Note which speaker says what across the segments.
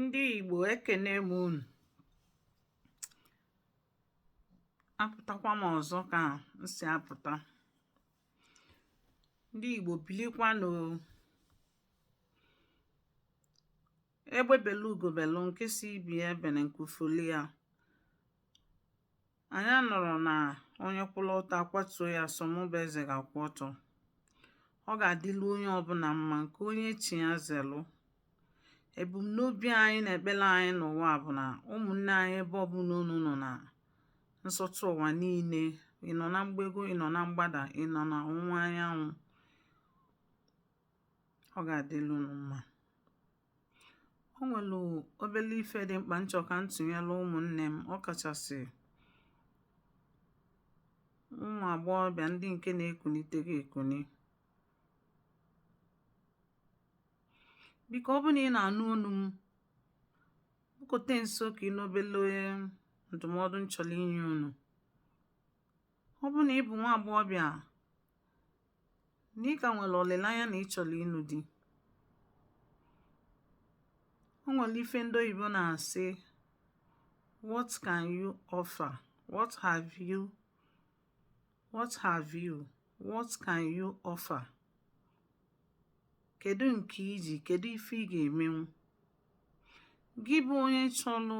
Speaker 1: ndị Igbo ekene m unu apụtakwa m ọzọ ka m si apụta ndị Igbo bilikwanụ egbe belu ugo belu nke si ibe ya ebene nku fuli ya Anyị anọrọ na onye kwụrụ ọtọ a kwatuo ya sọ mụ bụ eze ga-akwụ ọtọ ọ ga-adịlu onye ọbụla mma nke onye chi ya zelụ ebumnobi anyị na ekpere anyị n'ụwa bụ na ụmụnne anyị ebe ọbụla unu nọ na nsọtụ ụwa niile ị nọ na mgbego ị nọ na mgbada ị nọ na ọwụwa anyanwụ ọ ga-adịlu unu mma o nwere obere ife dị mkpa m chọ ka m tụnyere ụmụnne m ọ kachasị ụmụ agbọghọbịa ndị nke na-ekunite gị ekuni biko ọ bụ na ị na-anụ olu m bụkote nso ka ị nụ obele ndụmọdụ m chọrọ inye unu ọ bụ na ị bụ nwa agbọghọbịa na ị ka nwere olileanya na ị chọrọ ịnụ di o nwere ife ndị oyibo na-asị what can you offer what have you what can you offer kedu nke i ji kedu ife ị ga-emenwu gị bụ onye chọrọ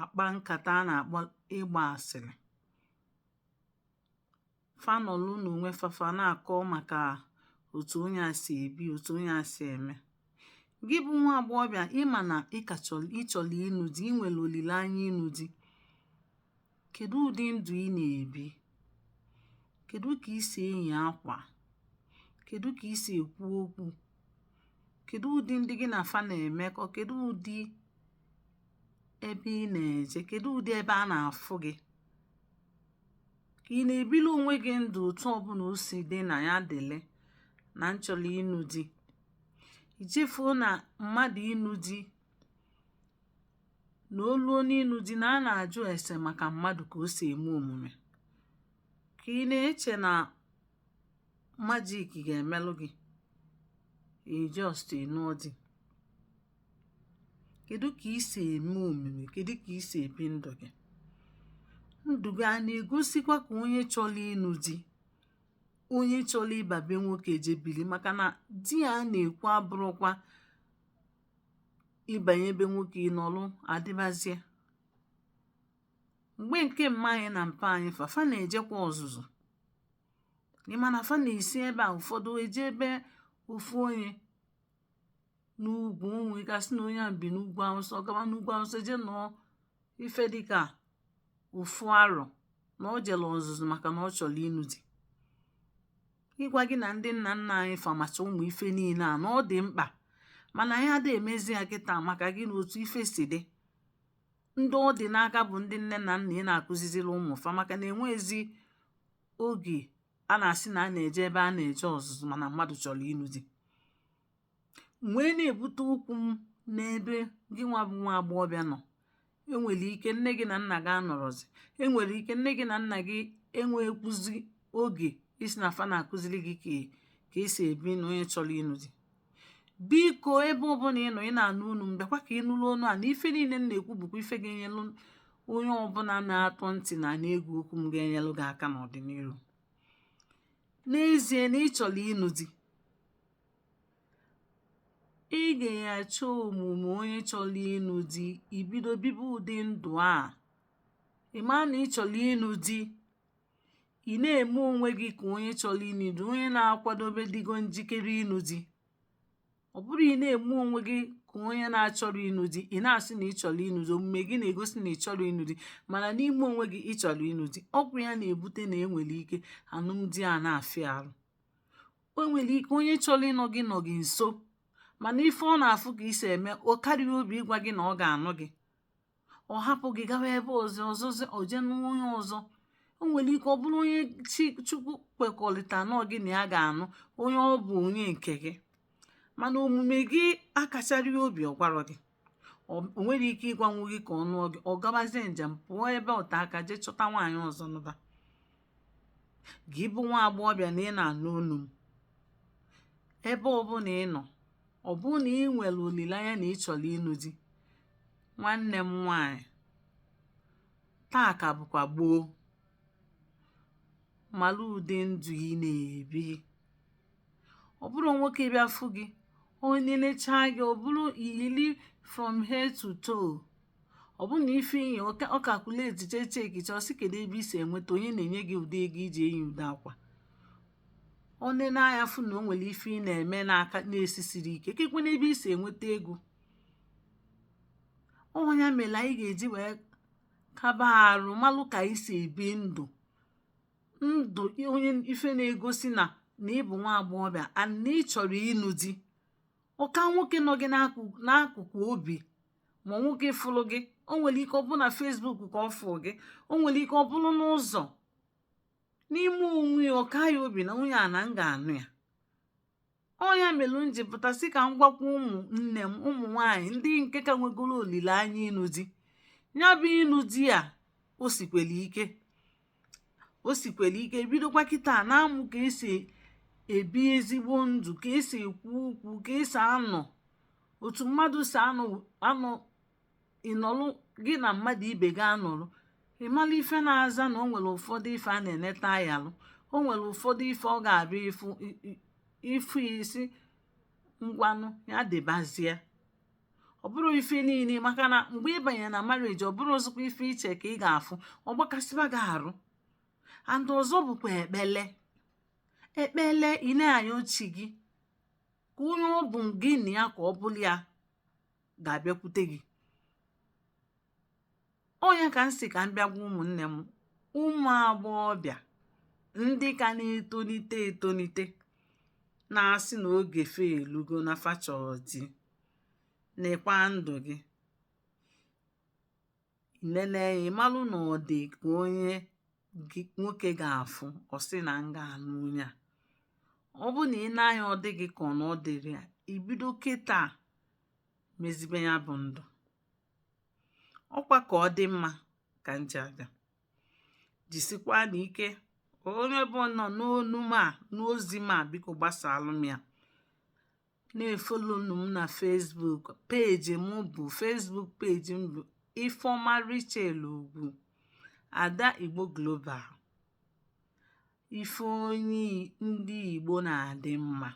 Speaker 1: akpa nkata a na-akpọ ịgba asịrị fa nọlụ n'onwe fa fa na-akọ maka otu onye a si ebi otu onye a si eme gị bụ nwa agbọghọbịa ị ma na ị chọrọ ịnụ di ị nwere olileanya ịnụ di kedu ụdị ndụ ị na-ebi kedu ka i si eyi akwa kedu ka i si ekwu okwu kedu ụdị ndị gị na fa na-emekọ kedu ụdị ebe ị na-eje kedu ụdị ebe a na-afụ gị ka ị na-ebili onwe gị ndụ otu ọbụla o si dị na ya dịlị na m chọrọ ịnụ di i chefuo na mmadụ ịnụ di na o luo n'ịnụ di na a na-ajụ ese maka mmadụ ka o si eme omume ka ị na-eche na majik ga-emelụ gị ị just nụọ di kedu ka i si eme omume kedu ka i si ebi ndụ gị ndụ gị a na-egosikwa ka onye chọrọ ịnụ di onye chọrọ ịba be nwoke je bili maka na di a na-ekwu abụrụkwa ịbanye be nwoke ị nọlụ adịbazie mgbe nke mma anyị na mpa anyị fa fa na-ejekwa ọzụzụ ị ma na fa na-esi ebe a ụfọdụ eje ebe ofu onye n'ugwu o nwe ike asị na onye a bi n'ugwu awụsa ọ gawa n'ugwu awụsa jee nọọ ife dịka ofu arọ na o jere ọzụzụ maka na ọ chọrọ ịnụ di ịgwa gị na ndị nna nna anyị fa macha ụmụ ife niile a na ọ dị mkpa mana anyị adịghị emezi ya kịta maka gịnị otu ife si dị ndị ọ dị n'aka bụ ndị nne na nna ị na-akụziziri ụmụ fa maka na enwezi oge a na-asị na a na-eje ebe a na-eje ọzụzụ mana mmadụ chọrọ ịnụ di wee na-ebute okwu m n'ebe gị nwa bụ nwa agbọghọbịa nọ enwere ike nne gị na nna gị anọrọzi enwere ike nne gị na nna gị enwekwuzi oge ịsị na fa na-akụziri gị ka e si ebi ndụ onye chọrọ ịnụ di biko ebe ọbụla ị nọ ị na-anụ onu m bịakwa ka ị nụrụ onu a na ife niile m na-ekwu bụkwa ife ga-enyelu onye ọbụla na-atọ ntị na na-ege okwu m ga-enyelu gị aka n'ọdịnihu n'ezie na ị chọrọ ịnụ di ị ga-achọ omume onye chọrọ ịnụ di i bido bibe ụdị ndụ a ị ma na ị chọrọ ịnụ di ị na-eme onwe gị ka onye chọrọ ịnụ di onye na-akwadobe dịgo njikere ịnụ di ọ bụrọ ị na-eme onwe gị ka onye na-achọrọ ịnụ di ị na-asị na ị chọrọ ịnụ di omume gị na-egosi na ị chọrọ ịnụ di mana n'ime onwe gị ị chọrọ ịnụ di ọ kwa ya na-ebute na enwere ike anụmdi a na-afịa arụ o nwere ike onye chọrọ ịnụ gị nọ gị nso mana ife ọ na-afụ ka i si eme ọ karọ ya obi ịgwa gị na ọ ga-anụ gị ọ hapụ gị gawa ebe ọzọ o je nụọ onye ọzọ o nwere ike ọ bụrụ onye chi chukwu kwekọrịta na gị na ya ga-anụ onye ọ bụ onye nke gị mana omume gị akacharọ ya obi ọ gwarọ gị o nwerọ ike ịgwanwu gị ka ọ nụọ gị ọ gabazie njem pụọ ebe ote aka jee chọta nwaanyị ọzọ nụba gị bụ nwa agbọghọbịa na ị na-anụ onu m ebe ọbụla ị nọ ọ bụrụ na ị nwere olileanya na ị chọrọ ịnụ di nwanne m nwaanyị taa ka bụkwa gboo mara ụdị ndụ ị na-ebi ọ bụrụ nwoke bịa fụ gị o nenechaa gị ọ bụrụ i yili from head to toe ọ bụ na ife i yi ọ calculate chaa check chaa ọ sị kedu ebe i si enweta onye na-enye gị ụdị ego i ji eyi ụdị akwa o nene anya fụ na o nwere ife ị na-eme n'aka na-esisiri ike keekwanụ ebe i si enweta ego ọ bụ ya mere anyị ga-eji wee kaba arụ malụ ka anyị si ebi ndụ ndụ onye ife na-egosi na na ị bụ nwa agbọghọbịa and na ị chọrọ ịnụ di ọ ka nwoke nọ gị n'akụkụ obi ma nwoke fụrụ gị o nwere ike ọ bụrụ na Facebook ka ọ fụ gị o nwere ike ọ bụrụ n'ụzọ n'ime onwe ya ọ kaa ya obi na nwunye a na m ga-anụ ya ọ ya mere m ji pụta sị ka m gwakwa ụmụ nne m ụmụ nwaanyị ndị nke ka nwegoro olileanya ịnụ di ya bụ ịnụ di a o sikwere ike o sikwere ike bidokwa kịta na-amụ ka esi ebi ezigbo ndụ ka esi ekwu okwu ka esi anọ otu mmadụ si anọ anọ ị nọlụ gị na mmadụ ibe gị anọlụ ị mala ife na-aza na o nwere ụfọdụ ife a na-eneta a yalụ o nwere ụfọdụ ife ọ ga-abụ ị fụ ị sị ngwanụ ya dịbazie ọ bụrọ ife niile maka na mgbe ị banyere na marriage ọ bụrụzikwa ife iche ka ị ga-afụ ọ gbakasịba gị arụ and ọzọ bụkwa ekpele ekpele ị na-ayọ chi gị ka onye ọ bụ gị na ya ka ọ bụlụ ya ga-abịakwute gị ọ nya ka m sị ka m bịa gwa ụmụnne m ụmụ agbọghọbịa ndị ka na-etonite etonite na-asị na oge fa elugo na fa chọ di nekwa ndụ gị nene ya ị malụ na ọ dị ka onye nwoke ga-afụ ọ sị na m ga-anụ onye a ọ bụ na i nee anya ọ dị gị ka ọ na ọ dịrị ya i bido kịta mezibe ya bụ ndụ ọkwa ka ọ dị mma ka m je aga jisikwanụ ike onye ọbụna nụ onu m a nụ ozi m a biko gbasalụ m ya na-efolonụ m na Facebook page m bụ Facebook page m bụ Ifeoma Richel Ugwu ada Igbo Global ife onye ndị Igbo na-adị mma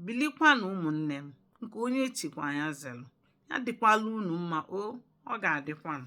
Speaker 1: bilikwanụ ụmụnne m nke onye chikwa ya zelụ ya dịkwala unu mma o ọ ga-adịkwanụ